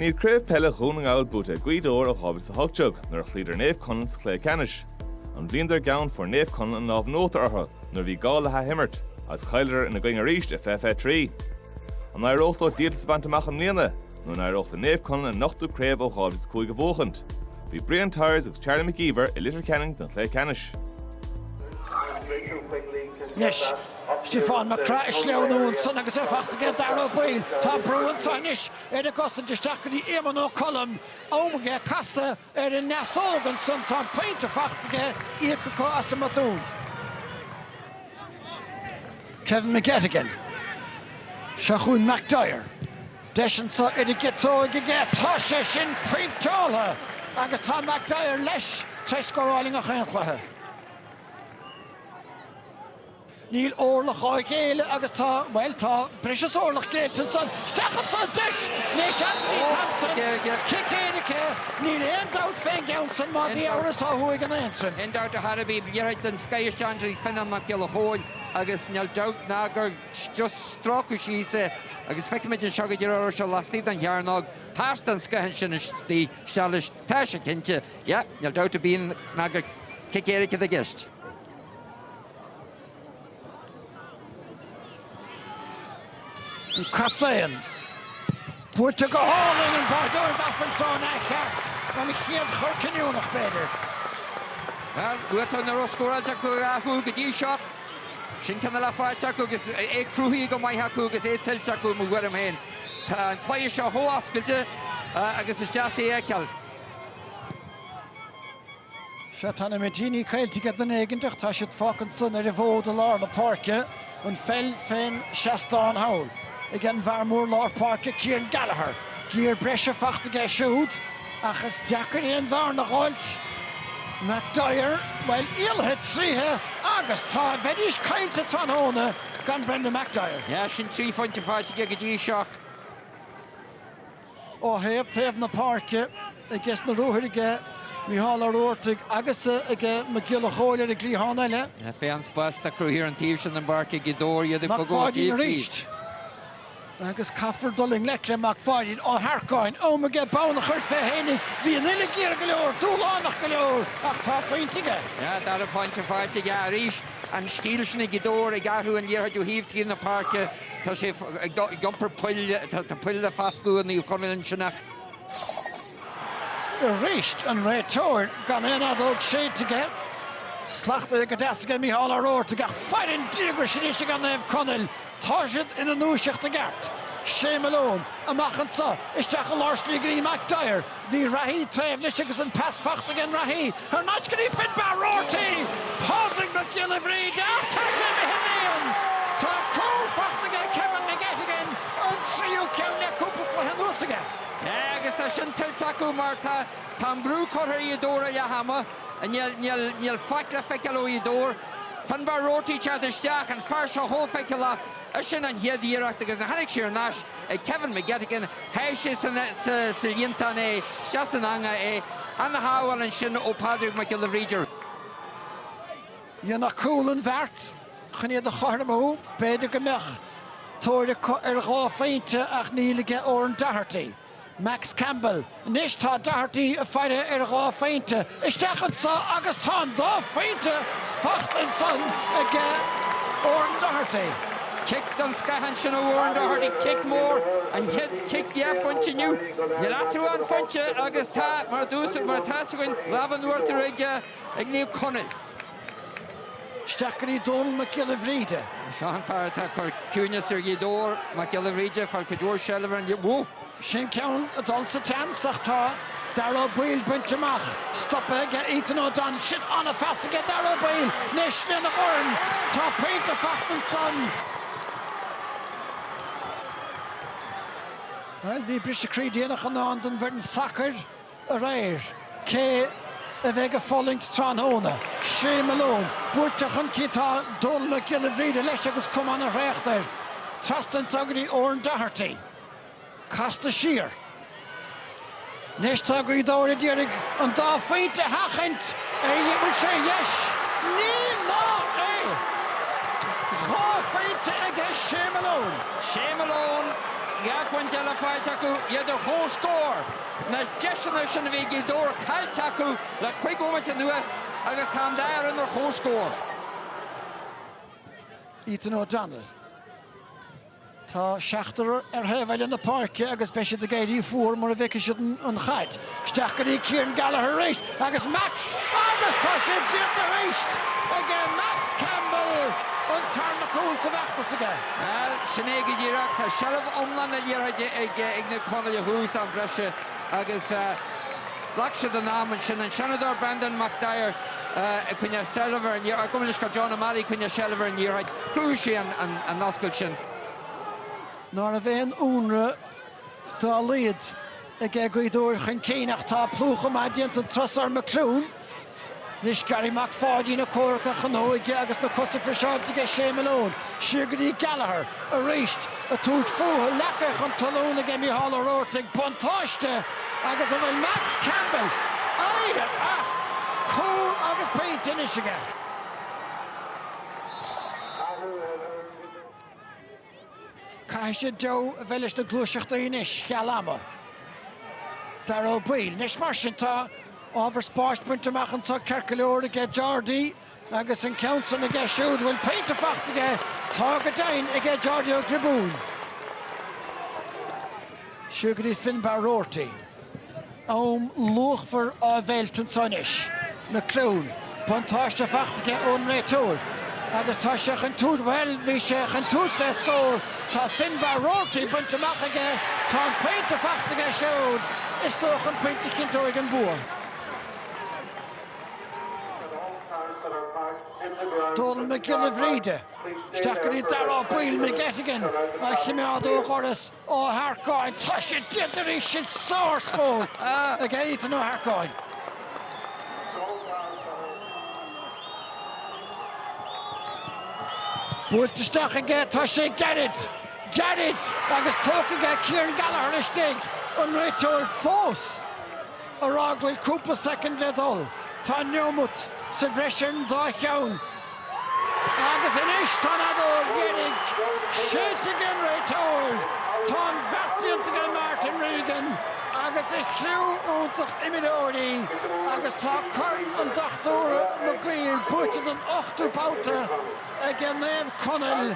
Níl Craobh Peile Dhún na nGall buaite ag Gaoth Dobhair ó 2018, nuair a chloíodar Naomh Conaill sa chluiche ceannais. An bhliain dár gceann fuair Naomh Conaill an lámh in uachtar orthu nuair a bhí gá le hathimirt, agus chailleadar ina gcoinne arís i 2023. An éireoidh leo díoltas a bhaint amach i mbliana, nó an éireoidh le Naomh Conaill a n-ochtú craobh ó 2005 a bhuachaint? Bhí Brian Tyers agus Charlie McGeever i Leitir Ceanainn don chluiche ceannais. Anois, Stiofán Mac Craith ag sleamhnú ansan agus é fachta aige ag Darragh Ó Baoill. Tá brú anso anois ar an gcosaint isteach go dtí Éamonn Ó Colm. Am aige casadh ar an ndeasóg ansan. Tá an pointe fachta aige, íoctha acu as an mbotún. Kevin McGettigan. Seo chugainn McDyer. Deis anso ar an gciotóig aige. Tá sé sin pointeáilte! Agus tá McDyer leis tar éis scóráil i ngach aon chluiche. Níl orlach á ghéilleadh agus tá, bhuel, tá breis is orlach géillte ansan. Isteach anso an deis anois Anthony Thompson. Cic éirice, níl aon dabht fén gceann san má bhí amhras ó thuaidh in Aontroim. Gan dabht ar bith, liathróid den scoith isteach trí Fionnán Mac Giolla Chomhaill agus níl dabht ná gur stróiceadh síos é agus feicimid anseo go díreach an raibh sé laistigh den chearnóg. Pas den scoith ansin isteach leis, tá sé cinnte. Yeah, níl dabht ar bith ná gur cic éirice atá i gceist. Captaen, Buailte go hálainn, an báireoir d'Aifreann seo an ea cheart? An chéad chor cinniúnach, b'fhéidir? Bhuel, buartha nach raibh scóráilte acu a dhá chúl go dtí seo, sin ceann eile faighte acu agus é cruthaithe go maith acu agus é tuillte acu, i mo thuairim féin. Tá an cluiche seo chomh oscailte agus is deas é a fheiceáil. Sea, tá na mitíní caillte ag duine éigin, ach tá siad fágtha ansan ar an bhfód i lár na páirce, an pheil fén seastán thall ag an bhfear mór lár páirce, Kieran Gallagher. Giar breise fachta aige siúd, ach is deacair aon bhearna dh'fháilt. McDyer, Bhuel, éalaithe tríotha agus tá, bheidís caillte tráthnóna gan Brendan McDyer. Sea, sin trí phointe faighte aige go dtí seo. Ó thaobh taobh na páirce, agus na ruathair aige Micheál Ó Robhartaigh agus ag Mac Giolla Chomhaill ar an gcliathán eile. Féach an spás atá cruthaithe ar an taobh sin den bpáirc ag Gaoth Dobhair, iad ag bogadh ó thaobh taobh. Mac Pháidín arís. Agus caithfear dul i ngleic le Mac Pháidín Ó hEarcáin. Am aige bonn a chur fé fhéinig. Bhí an uille ghéar go leor, dúshlánach go leor, ach tá pointe aige. Yeah, dara pointe faighte aige arís. An stíl sin ag Gaoth Dobhair ag athrú an liathróid ó thaobh taobh na páirce. Tá sé ag iompar poill. Tá poill le foscladh i Naomh Conaill ansin ach. Arís an réiteoir gan aon fheadóg shéidte aige. Slachtaithe go deas aige Micheál Ó Roartaigh ach fair an díograis anois aige Naomh Conaill. Tá siad ina ndúiseacht i gceart. Shea Malone, amach anseo, isteach i lár slí go dtí McDyer. Bhí reathaí taobh leis agus an pas fachta aige an reathaí thar n-ais go dtí Finbarr Roarty, Pádraig Mac Giolla Bhríde ach tá sé imithe sa líon. Tá cúl fachta aige Kevin McGettigan, an tríú ceann le cúpla cluiche anuas aige. Agus tá sin tuillte acu mar tá tá an brú curtha ar Ghaoth Dobhair ó leath ama. Níl níl níl faic le feiceáil ó Ghaoth Dobhair. Finbarr Roarty teacht isteach, an fear seo chomh feiceálach. Eisean an chéad iarracht agus nuair a tháinig sé ar n-ais. ag Kevin McGettigan, sháigh sé sa líontán é, sea, san eangach é, an-shábháil ansin ó Phádraig Mac Giolla Bhríde. Dhéanfadh cúl an bheart chun iad a chothromú, b'fhéidir go mbeadh tóir acu ar dhá phointe ach níl aige Oran Doherty. Max Campbell, Anois tá Doherty ag faire ar dhá phointe isteach anso agus tá an dá phointe fachta ansan aige, Oran Doherty. Cic den scoth ansin ó Oran Doherty, cic mór, an chéad chic dhá phointe inniu. Níl eatarthu ach aon phointe agus tá, mar a dúrtsa, mar atá a fhios againn, lámh an uachtair ag Naomh Conaill. Isteach go dtí Dónall Mac Giolla Bhríde. Seo an fear atá ag cur ciúineas ar Ghaoth Dobhair, Mac Giolla Bhríde, ag fáil cuid mhór seilbh ar an. Sin ceann ag dul sa tseans ach tá Dara Ó Baoill bainte amach, stopaithe aige Ethan O'Donnell, sin an-phas aige Dara Ó Baoill, anois lena dhorn, tá pointe fachta ansan. Bhuel, bhí briseadh croí déanach i ndán don bhfoireann sacair. aréir, cé a bheidh ag fulaingt tráthnóna? Shea Malone buailte chun cinn, tá Dónal Mac Giolla Bhríde leis agus cuma ana thraochta air trasna ansan go dtí, Oran Doherty casta siar. Anois tá Gaoth Dobhair ag iarraidh an dá phointe a sheachaint an bhfuil sé ar dheis. Ní ná é! Dhá phointe aige Shea Malone. Shea Malone, dhá phointe eile faighte acu, iad ar chomhscór. Na deiseanna sin a bhí ag Gaoth Dobhair caillte acu le cuig bhomaite anuas agus tá an dá fhoireann ar chomhscór. Ethan O'Donnell. Tá seachtar ar thaobh eile na páirce agus beidh siad ag éirí fuar mura bhfeicfidh siad an chaid. Isteach go dtí Kieran Gallagher arís! Agus Max, agus tá sé déanta arís aige! Max Campbell, an tarna cúl sa bhfeachtas aige. Bhuel, sin é go díreach. Tá seilbh iomlán na liathróide ag na Conallaigh ó thús am breise agus ghlac siad a n-am ansin. An Seanadóir Brendan McDyer ag coinneáil seilbh ar an liathróid, go maith leis go John O'Malley ag coinneáil seilbh ar an liathróid. Chruthaigh sé an oscailt sin. Ní raibh aon ionradh dá laghad Ag Gaoth Dobhair chun cinn ach tá plúchadh maith déanta an turas so ar McLoone. Anois Gary Mac Pháidín ag comhrac ach an óige agus na cosa friseáilte aige Shea Malone. Siúd go dtí Gallagher arís ag tabhairt fúthu. Leagtha chun talún aige Micheál Roarty, buntáiste agus an bhfuil Max Campbell éirithe as? Cúl agus pointe anois aige. Caithfidh sé deabhadh a bheith leis na gluaiseachtaí anois, cheal ama. Dáire Ó Baoill, Anois mar sin, tá ábhar spáis bainte amach anseo ceart go leor aige Jordi, agus an ceann san aige siúd an bhfuil pointe fachta aige, tá go deimhin aige Jordi Ó Gribín. Siúd go dtí Finbarr Roarty. Am luachmhar á mheilt anseo anois. McLoone, buntáiste fachta aige ón réiteoir agus tá sé chun tabhairt, bhuel, bhí sé chun tabhairt fé scór, tá Finnbarr Roarty bainte amach aige, tá an pointe fachta aige siúd, is dócha an pointe a chinnteoidh an bua. Dónal Mac Giolla Bhríde. isteach go dtí Dáire Ó Baoill McGettigan a chimeád ó dhoras Ó hEarcáin. Tá sé déanta arís sin! Sár-scór ag Ethan Ó hEarcáin. Buailte isteach aige, tá sé gairid! Gairid! Agus tógtha aige Kieran Gallagher istigh! An réiteoir fós ag rá go bhfuil cúpla soicind le dul. Tá neomat sa bhreis ar an dá cheann. Agus anois tá an fheadóg dheiridh séidte ag an réiteoir. Tá an beart déanta aige Martin Regan agus a chriú iontach imreoirí agus tá Corn an Dochtúra Maguire buaite don ochtú babhta aige Naomh Conaill.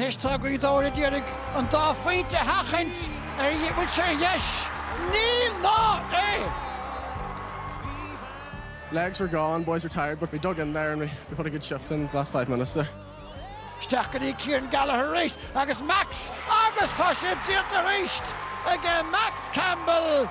Anois tá Gaoth Dobhair a d'iarraidh an dá phointe féachaint an bhfuil sé ar dheis, níl ná é! Legs were gone, boys were tired but we dug in there and we put a good shift in the last five minutes there. Isteach go dtí Kieran Gallagher arís agus Max agus tá sé déanta arís aige Max Campbell!